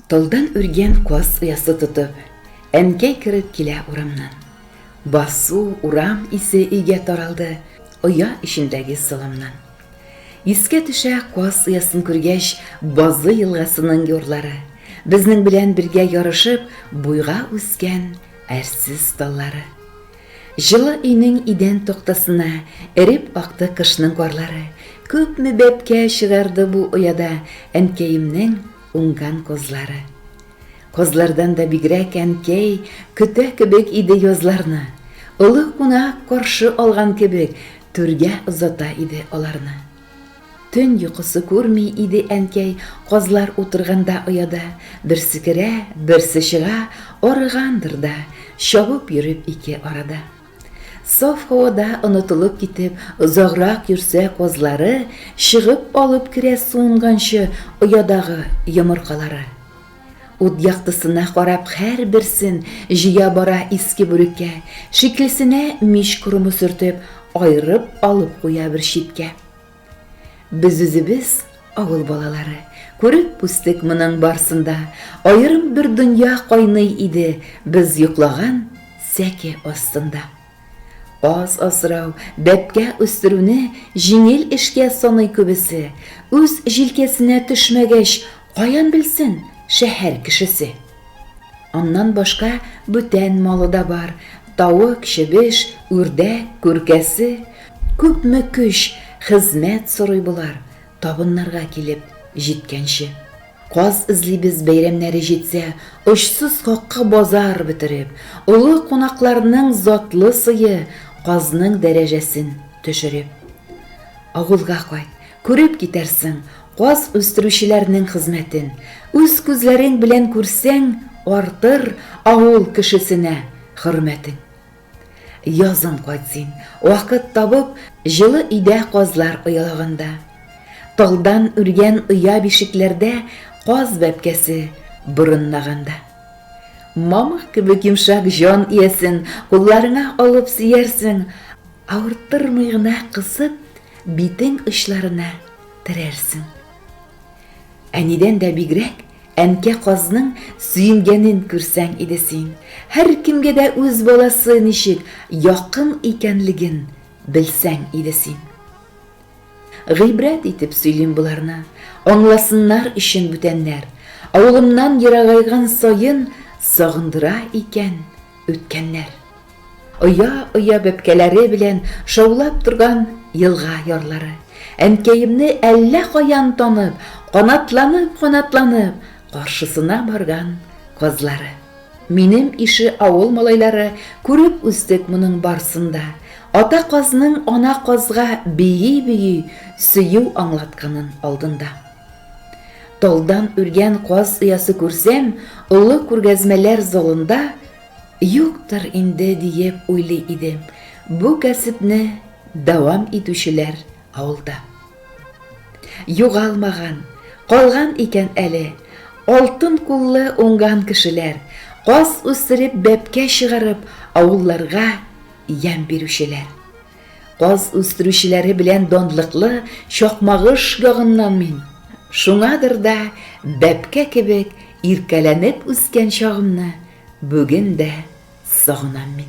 Талдан үргән каз оясы тотып, әнкәй кереп килә урамнан. Басу, урам исе өйгә таралды, оя эчендәге саламнан. Искә төшә каз оясын күргәч Базы елгасының юрлары, безнең белән бергә ярышып буйга үскән әрсез таллары. Җылы өйнең идән тактасына эреп акты кышның карлары, күпме бәбкә чыгарды бу ояда әнкәемнең Уңган козлары. Козлардан да бигрәк әнкәй көтә кебек иде язларны, олы кунак каршы алган кебек түргә озата иде аларны. Төн йокысы күрми иде әнкәй козлар утырганда ояда, берсе керә, берсе чыга, арыгандыр да, чабып йөреп ике арада. Саф һавада онытылып китеп, озаграк йөрсә, казлары, чыгып алып керә суынганчы оядагы йомыркалары. Ут яктысына карап һәрберсен җыя бара иске бүреккә, шикелсенә мич корымы сөртеп, аерып алып куя бер читкә. Без үзебез авыл балалары, күреп үстек моның барсында, аерым бер дөнья кайный иде без йоклаган сәке астында. Аз асрау, бәпкә үстерүне җиңел эшкә саный күбесе, үз җилкәсенә төшмәгәч, каян белсен шәһәр кешесе. Аннан башка бүтән малы да бар, тавык, чебеш, үрдәк, күркәсе. Күпме көч, хезмәт сорый болар, табыннарга килеп җиткәнче. Каз эзлибез бәйрәмнәре җитсә, очсыз какка базар бетереп, олы кунакларның затлы сые, казның дәрәҗәсен төшереп. Авылга кайт, Күреп китәрсең каз үстерүчеләрнең хезмәтен, үз күзләрең белән күрсәң, артыр авыл кешесенә хөрмәтең. Язын кайт син, вакыт табып, җылы өйдә казлар оялаганда. Талдан үргән оя-бишекләрдә каз бәбкәсе борынлаганда. Мамык кебек йомшак җан иясен кулларыңа алып сөярсең, авырттырмый гына кысып, Битең очларына терәрсең. Әнидән дә бигрәк, әнкә казның сөенгәнен күрсәң иде син. Һәркемгә дә үз баласы ничек якын икәнлеген белсәң иде син. Гыйбрәт итеп сөйлим боларны, аңласыннар өчен бүтәннәр. Авылымнан ерагайган саен сагындыра икән. үткәннәр. Оя-оя бәбкәләре белән шаулап торган елга ярлары. Әнкәемне әллә каян танып, канатланып-канатланып, каршысына барган казлары. Минем ише авыл малайлары күреп үстек моның барсын да, ата казның ана казга бии-бии сөю аңлатканын алдында. Талдан үргән каз оясы күрсәм, олы күргәзмәләр залында юктыр инде диеп уйлый идем. Бу кәсепне дәвам итүчеләр авылда. Югалмаган, калган икән әле. Алтын куллы уңган кешеләр, каз үстереп бәбкә чыгарып, авылларга ямь бирүчеләр. Каз үстерүчеләре белән данлыклы Чакмагыш ягыннан мин. Шуңадыр да, бәбкә кебек иркәләнеп үскән чагымны бүген дә сагынам мин.